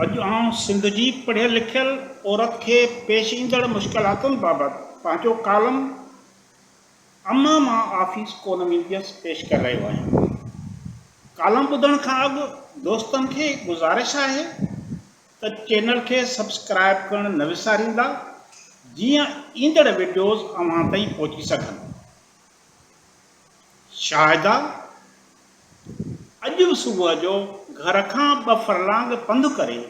اڄ آئون سنڌ جي پڙهيل لکيل عورت کي پيش ايندڙ مشڪلاتن بابت پنهنجو ڪالم امان مان آفيس ڪونه وينديس پيش ڪري رهيو آهيان. ڪالم ٻڌڻ کان اڳ دوستن کي گذارش آهي ته چينل کي سبسڪرائب ڪرڻ نه وساريندا جيئن ايندڙ وڊيوز اوهان تائين پهچي سگهن. شاهده، اڄ به صبح جو گهر کان ٻه فرلانگ پنڌ ڪري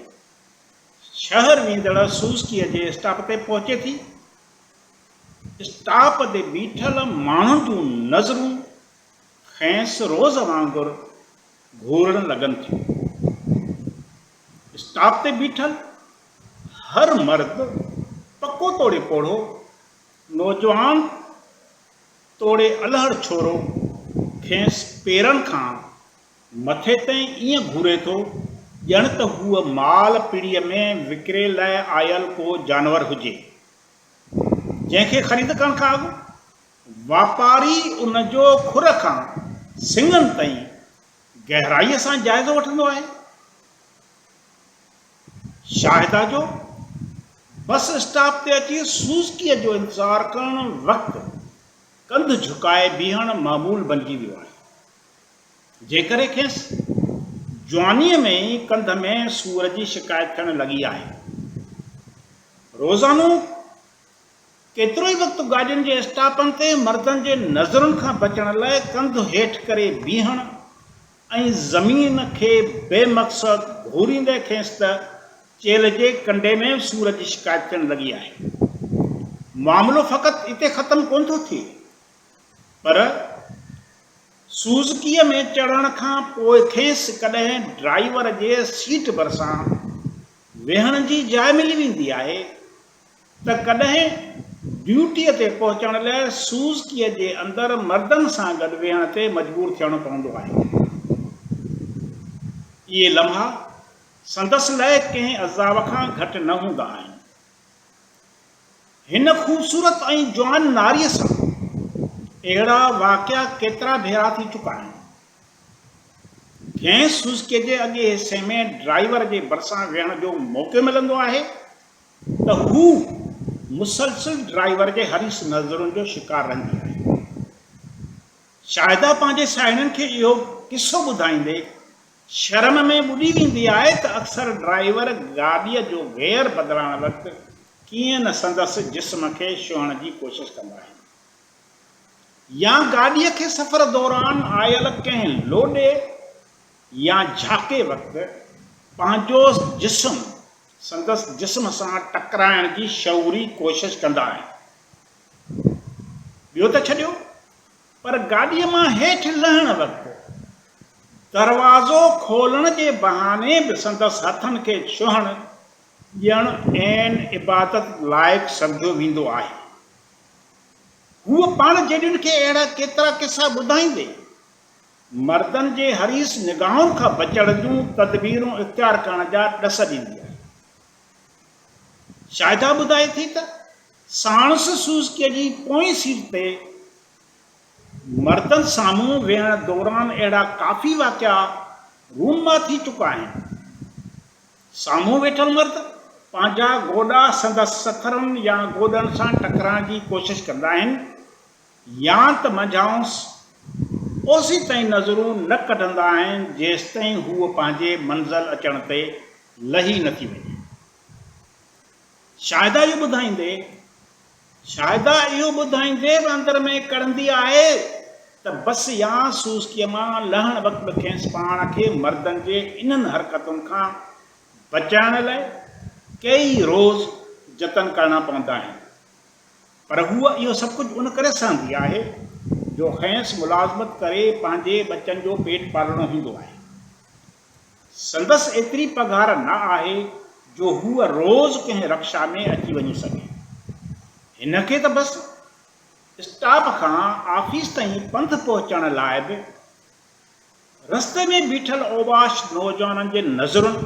شهر ويندڙ سوزڪيء جي اسٽاپ تي پهچي ٿي. اسٽاپ تي بيٺل ماڻهن جون نظرون کيس روز وانگر گهورڻ لڳن ٿيون. اسٽاپ تي بيٺل هر مرد پڪو توڙي پوڙهو نوجوان توڙي الهڙ ڇورو کيس پيرن کان مٿي تائين ائين گهوري ٿو ڄڻ ته هوء مال پڙي ۾ وڪري لاء آيل ڪو جانور هجي، جنهن کي خريد ڪرڻ کان اڳ واپاري ان جو کر کان سڱن تائين گهرائيء سان جائزو وٺندو آهي. شاهده جو بس اسٽاپ تي اچي سوزڪيء جو انتظار ڪرڻ وقت ڪنڌ جهڪائي بيهڻ معمول بنجي ويو آهي، جنهن ڪري کيس جوانيء ۾ ئي ڪنڌ ۾ سور جي شڪايت ٿيڻ لڳي آهي. روزانو ڪيترو ئي وقت گاڏين جي اسٽاپن تي مردن جي نظرن کان بچڻ لاء ڪنڌ هيٺ ڪري بيهڻ ۽ زمين کي بي مقصد گهوريندي کيس ته چيلهه جي ڪنڊي ۾ سور جي شڪايت ٿيڻ لڳي آهي. معاملو فقط اتي ختم ڪونه ٿو ٿئي پر سوزڪيء ۾ چڙهڻ کان پوء کيس ڪڏهن ڊرائيور جي سيٽ ڀرسان ويهڻ جي جاء ملي ويندي آهي ته ڪڏهن ڊيوٽيء تي پهچڻ لئه سوزڪيء جي اندر مردن سان گڏ ويهڻ تي مجبور ٿيڻو پوندو آهي. اهي لمحا سندس لئه ڪنهن عذاب کان گهٽ نه هوندا آهن. هن خوبصورت ۽ جوان ناريء سان اهڙا واقعا ڪيترا ڀيرا ٿي چڪا آهن. جنهن سوزڪيء جي اڳئين حصي ۾ ڊرائيور جي ڀرسان ويهڻ جو موقعو ملندو آهي، ته هو مسلسل ڊرائيور جي حريص نظرن جو شڪار رهندي آهي. شاهده پنهنجي ساهيڙين کي اهو قصو ٻڌائيندي شرم ۾ ٻڏي ويندي آهي ته اڪثر ڊرائيور گاڏيء جو گيئر بدلائڻ وقت ڪيئن نه سندس جسم کي ڇهڻ جي ڪوشش ڪندا آهن يا گاڏيء کي سفر دوران آيل ڪنهن لوڏي يا جهاڪي وقت پنهنجو جسم سندس جسم سان ٽڪرائڻ جي شعوري ڪوشش ڪندا آهن. ٻيو ته ڇڏيو پر گاڏيء مان هيٺ لهڻ وقت دروازو کولڻ جي بهاني به سندس هٿن کي ڇهڻ ڏيڻ عين عبادت لائق سمجهيو ويندو آهي. هوء پاڻ جيڏن کي اهڙا ڪيترا قصا ٻڌائيندي مردن جي حريص نگاهن کان بچڻ جون تدبيرون اختيار ڪرڻ جا ڏس ڏيندي آهي. شاهده ٻڌائي ٿي ته ساڻس سوزڪي جي پوئين سيٽ تي مردن سامهون ويهڻ دوران اهڙا ڪافي واقعا رونما ٿي چڪا آهن. سامهون ويٺل مرد پنهنجا گوڏا سندس سٿرن يا گوڏن سان ٽڪرائڻ جي ڪوشش ڪندا آهن، يا ته منجهانئس اوسيتائين نظرون نه ڪڍندا آهن جيستائين هوء پنهنجي منزل اچڻ تي لهي نه ٿي وڃي. شاهده اهو ٻڌائيندي شاهده اهو ٻڌائيندي به اندر ۾ ڪڙهندي آهي ته بس يا سوزڪيء مان لهڻ وقت به کيس پاڻ کي مردن جي انهن حرڪتن کان بچائڻ لاء ڪيئي روز جتن ڪرڻا پوندا آهن. پر هوء اهو سڀ ڪجهه ان ڪري سهندي آهي جو کينس ملازمت ڪري پنهنجي ٻچن جو پيٽ پالڻو هوندو آهي. سندس ايتري پگهار نه آهي جو هوء روز ڪنهن رڪشا ۾ اچي وڃي سگهي. هن کي ته بس اسٽاپ کان آفيس تائين پنڌ پهچڻ لاء به رستي ۾ بيٺل اوباش نوجوانن جي نظرن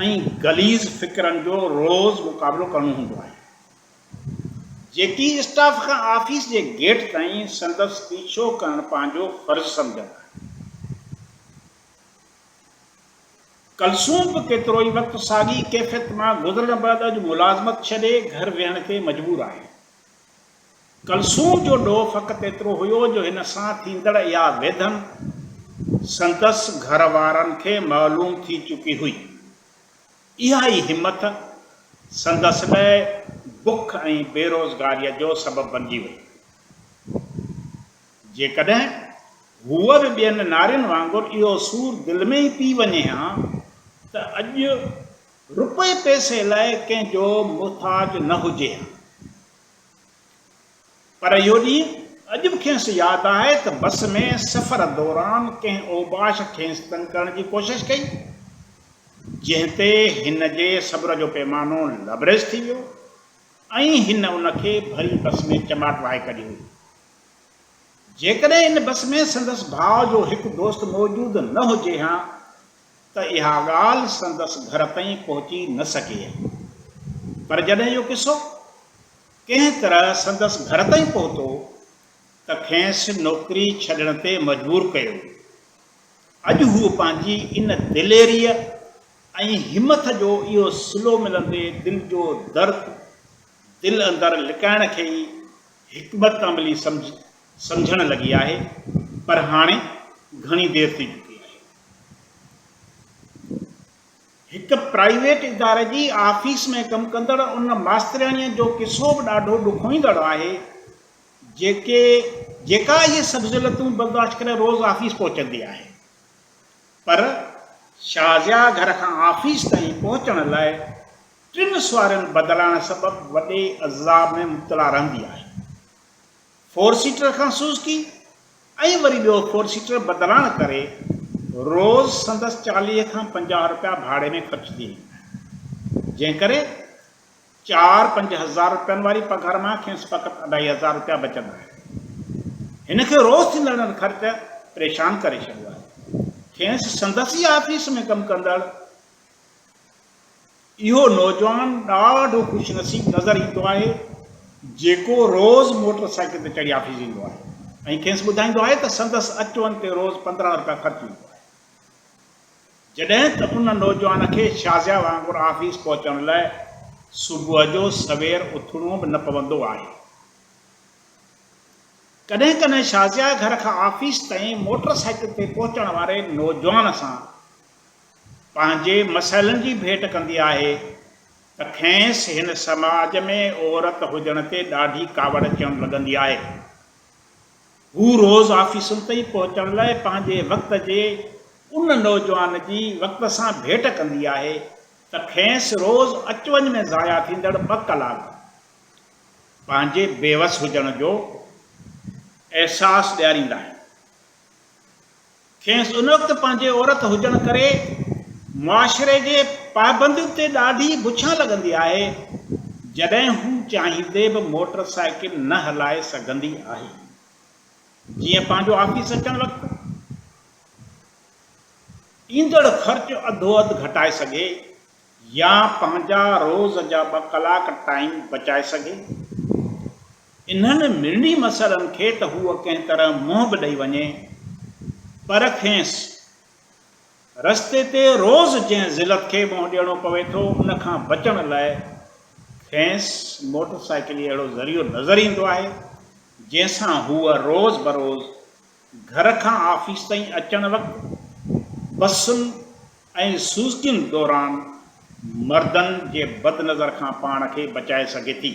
۽ غليظ فڪرن جو روز مقابلو ڪرڻو هوندو آهي. جي ٽي اسٽاف کان آفيس جي گيٽ تائين سندس پيڇو ڪرڻ پنهنجو فرض سمجهندا آهن. ڪلثوم به ڪيترو ئي وقت ساڳي ڪيفيت مان گذرڻ بعد اڄ ملازمت ڇڏي گهر ويهڻ تي مجبور آهي. ڪلثوم جو ڏوهه فقط ايترو هيو جو هن سان ٿيندڙ اها ويڌن سندس گهر وارن کي معلوم ٿي چڪي هئي. اها ئي همٿ سندس لئه بک ۽ بيروزگاريء جو سبب بنجي وئي. جيڪڏهن هوء به ٻين نارين وانگر اهو سور دل ۾ ئي پي وڃي ها ته اڄ رپئي پئسي لئه ڪنهن جو محتاج نه هجي ها. پر اهو ڏينهن اڄ به کيس ياد آهي ته بس ۾ سفر دوران ڪنهن اوباش کيس تنگ ڪرڻ جي ڪوشش ڪئي، جنهن تي هن جي صبر جو پيمانو لبريز ٿي ويو ۽ هن ان کي ڀري بس ۾ چماٽ وهائي ڪڍي هئي. جيڪڏهن ان بس ۾ سندس ڀاء جو هڪ دوست موجود نه هجي ها ته اها ڳالهه سندس گهر تائين پهچي نه سگهي ها. پر جڏهن اهو قصو. ڪنهن طرح سندس گهر تائين پهتو ته کينس نوڪري ڇڏڻ تي مجبور ڪيو ويو. اڄ هو پنهنجي ان دليريء ۽ همٿ جو اهو صلو ملندي دل جو درد دل اندر لڪائڻ کي ئي حڪمت عملي سمجهڻ لڳي آهي پر هاڻي گهڻي دير ٿي چڪي آهي. هڪ پرائيويٽ اداري جي آفيس ۾ ڪم ڪندڙ ان ماسترياڻيء جو قصو به ڏاڍو ڏکوئيندڙ آهي، جيڪي جيڪا اهي سڀ ذلتون برداشت ڪري روز آفيس پهچندي آهي. پر شازيا گهر کان آفيس تائين پهچڻ لاء ٽن سوارين بدلائڻ سبب وڏي عذاب ۾ مبتلا رهندي آهي. فور سيٽر کان سوزڪي ۽ وري ٻيو فور سيٽر بدلائڻ ڪري روز سندس چاليهه کان پنجاهه رپيا ڀاڙي ۾ خرچ ٿي ويندا آهن، جنهن ڪري چار پنج هزار رپين واري پگهر مان کيس فقط اڍائي هزار رپيا بچندا آهن. هن کي روز ٿيندڙ خرچ پريشان ڪري ڇڏيو آهي. کيس سندس ئي آفيس ۾ ڪم ڪندڙ. اهو نوجوان ڏاڍو خوش نصيب نظر ايندو آهي جيڪو روز موٽر سائيڪل تي چڙهي آفيس ايندو آهي ۽ کيس ٻڌائيندو آهي ته سندس اچ وڃ تي روز پندرهن رپيا خرچ ايندو آهي جڏهن ته ان نوجوان کي شازيا وانگر آفيس پهچڻ لاء صبح جو سوير اٿڻو به نه پوندو آهي ڪڏهن ڪڏهن شازيا گهر کان آفيس تائين موٽر سائيڪل تي پهچڻ واري نوجوان سان پنهنجي مسئلن جي ڀيٽ ڪندي آهي ته کينس هن سماج ۾ عورت هجڻ تي ڏاڍي ڪاوڙ اچڻ لڳندي آهي. هو روز آفيسن تائين پهچڻ لاء پنهنجي وقت جي ان نوجوان جي وقت سان ڀيٽ ڪندي آهي ته کينس روز اچ وڃ ۾ ضايع ٿيندڙ ٻه ڪلاڪ پنهنجي بيوس هجڻ جو احساس ڏياريندا آهن. کيس ان وقت پنهنجي عورت هجڻ ڪري معاشري جي پابندين تي ڏاڍي بڇان لڳندي آهي، جڏهن هو چاهيندي به موٽر سائيڪل نه هلائي سگهندي آهي. جيئن پنهنجو آفيس اچڻ وقت ايندڙ خرچ اڌو اڌ گهٽائي سگهي، يا پنهنجا روز جا ٻه ڪلاڪ ٽائيم بچائي سگهي. انهن مرڻي مسئلن کي ته هوء ڪنهن طرح منهن به ڏئي وڃي پر کيس رستي تي روز جنهن ذلت کي منهن ڏيڻو پوي ٿو ان کان بچڻ لاء کيس موٽر سائيڪل ئي اهڙو ذريعو نظر ايندو آهي جنهن سان هوء روز بروز گهر کان آفيس تائين اچڻ وقت بسن ۽ سوزڪين دوران مردن جي بد نظر کان پاڻ کي بچائي سگهي ٿي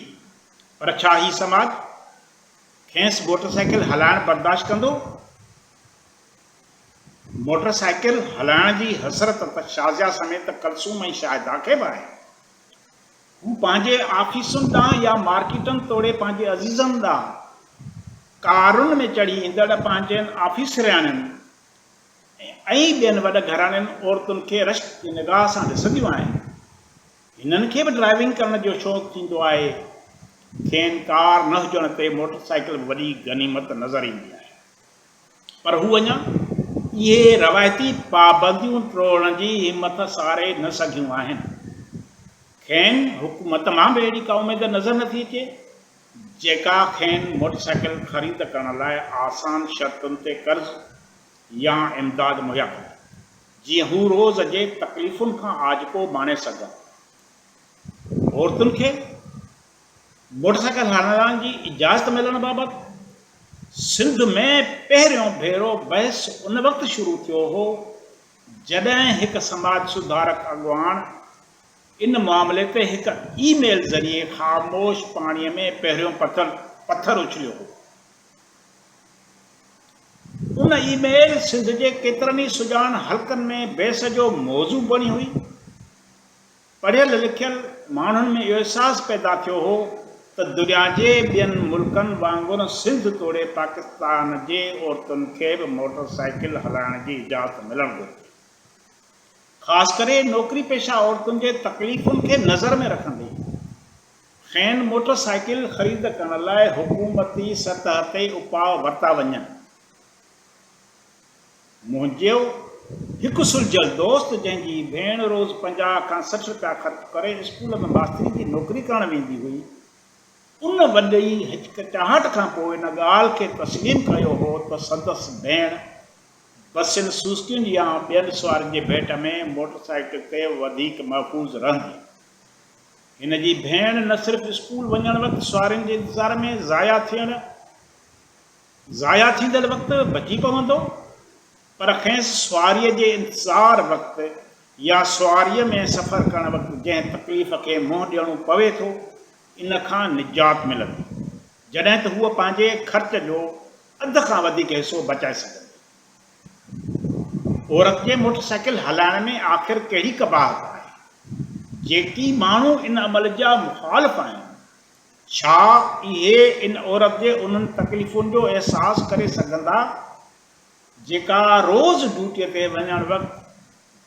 پر ڇا هي سماج کينس موٽر سائيڪل هلائڻ برداشت ڪندو؟ موٽر سائيڪل هلائڻ جي حسرت ته شازيا سميت ڪلثوم ۽ شاهده کي به آهي هو پنهنجي آفيسن ڏانهن يا مارڪيٽن توڙي پنهنجي عزيزن ڏانهن ڪارن ۾ چڙهي ايندڙ پنهنجين آفيسرياڻين ۽ ٻين وڏ گهراڻين عورتن کي رشڪ جي نگاهه سان ڏسنديون آهن. هنن کي به ڊرائيونگ ڪرڻ جو شوق ٿيندو آهي. کين ڪار نه هجڻ تي موٽرسائيڪل به وڏي غنيمت نظر ايندي آهي. پر هو اڃا اهي روايتي پابنديون ٽوڙڻ جي همٿ ساري نه سگهيون آهن. کين حڪومت مان به اهڙي ڪا اميد نظر نٿي اچي، جيڪا کين موٽر سائيڪل خريد ڪرڻ لاء آسان شرطن تي قرض يا امداد مهيا ڪندي، جيئن هو روز جي تڪليفن کان آجپو ماڻي سگهن. عورتن کي؟ موٽرسائيڪل هلائڻ جي اجازت ملڻ بابت سنڌ ۾ پهريون ڀيرو بحث ان وقت شروع ٿيو هو جڏهن هڪ سماج سڌارڪ اڳواڻ ان معاملي تي هڪ اي ميل ذريعي خاموش پاڻي ۾ پهريون پٿر اڇليو هو. ان اي ميل سنڌ جي ڪيترن ئي سڄاڻ حلقن ۾ بحث جو موضوع بڻي هئي. پڙهيل لکيل ماڻهن ۾ اهو احساس پيدا ٿيو هو ته دنياجي ٻين ملڪن وانگر سنڌ توڙي پاڪستان جي عورتن کي به موٽر سائيڪل هلائڻ جي اجازت ملڻ گهرجي. خاص ڪري نوڪري پيشه عورتن جي تڪليفن کي نظر ۾ رکندي کين موٽر سائيڪل خريد ڪرڻ لاء حڪومتي سطح تي اپاء ورتا وڃن. منهنجو هڪ سلجهيل دوست جنهن جي ڀيڻ روز پنجاهه کان سٺ رپيا خرچ ڪري اسڪول ۾ ماستري جي نوڪري ڪرڻ ويندي هئي، ان وڏي هچڪچاهٽ کان پوء ان ڳالهه کي تسليم ڪيو هو ته سندس ڀيڻ بسين، سوزڪين يا ٻين سوارين جي ڀيٽ ۾ موٽر سائيڪل تي وڌيڪ محفوظ رهندي. هن جي ڀيڻ نه صرف اسڪول وڃڻ وقت سوارين جي انتظار ۾ ضايع ٿيڻ، ضايع ٿيندڙ وقت بچي پوندو، پر کيس سواريء جي انتظار وقت يا سواريء ۾ سفر ڪرڻ وقت جنهن تڪليف کي منهن ڏيڻو پوي ٿو، ان کان نجات ملندي، جڏهن ته هوء پنهنجي خرچ جو اڌ کان وڌيڪ حصو بچائي سگهندي. عورت جي موٽر سائيڪل هلائڻ ۾ آخر ڪهڙي قباحت آهي؟ جيڪي ماڻهو ان عمل جا مخالف آهن، ڇا اهي ان عورت جي انهن تڪليفن جو احساس ڪري سگهندا، جيڪا روز ڊيوٽيء تي وڃڻ وقت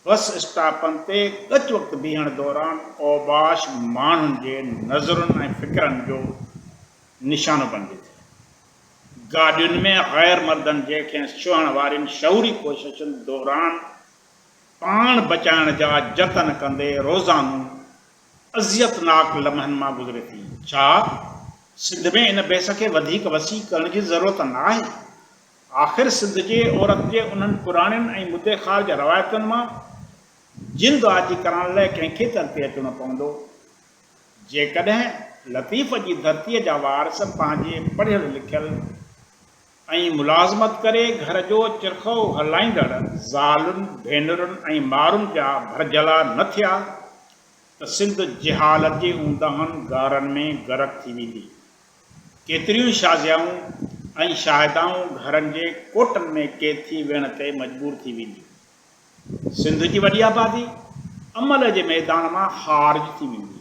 بس اسٽاپن تي ڳچ وقت بيهڻ دوران اوباش ماڻهن جي نظرن ۽ فڪرن جو نشانو بڻجي ٿي. گاڏين ۾ غير مردن جي کيس ڇهڻ وارين شعوري ڪوششن دوران پاڻ بچائڻ جا جتن ڪندي روزانو اذيتناڪ لمحن مان گذري ٿي. ڇا سنڌ ۾ ان بحث کي وڌيڪ وسيع ڪرڻ جي ضرورت نه آهي؟ آخر سنڌ جي عورت جي انهن پراڻين ۽ مدي خار جي روايتن مان جند آجي ڪرائڻ لاء ڪنهن کي تر تي اچڻو پوندو؟ جيڪڏهن لطيف جي ڌرتيء جا وارث پنهنجي پڙهيل لکيل ۽ ملازمت ڪري گهر جو چرخو هلائيندڙ زالن، ڀينرن ۽ مارن جا ڀرجهلا نه ٿيا ته سنڌ جهالت جي اونداهن غارن ۾ غرق ٿي ويندي. ڪيتريون شازيائون ۽ شاهدائون گهرن جي ڪوٽن ۾ قيد ٿي ويهڻ تي مجبور ٿي وينديون. سنڌ جي وڏي آبادي عمل جي ميدان مان خارج ٿي ويندي.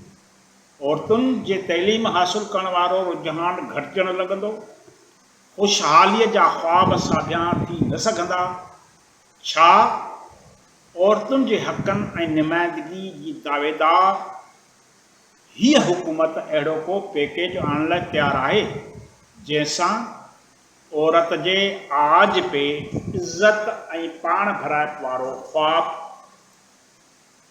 عورتن جي تعليم حاصل ڪرڻ وارو رجحان گهٽجڻ لڳندو. خوشحاليء جا خواب ساڀيان ٿي نه سگهندا ڇا؟ عورتن جي حقن ۽ نمائندگي جي دعويدار هيء حڪومت اهڙو ڪو پيڪيج آڻڻ لاء تيار آهي، جنهن سان عورت جي آج پي، عزت ۽ پاڻ ڀرائپ وارو خواب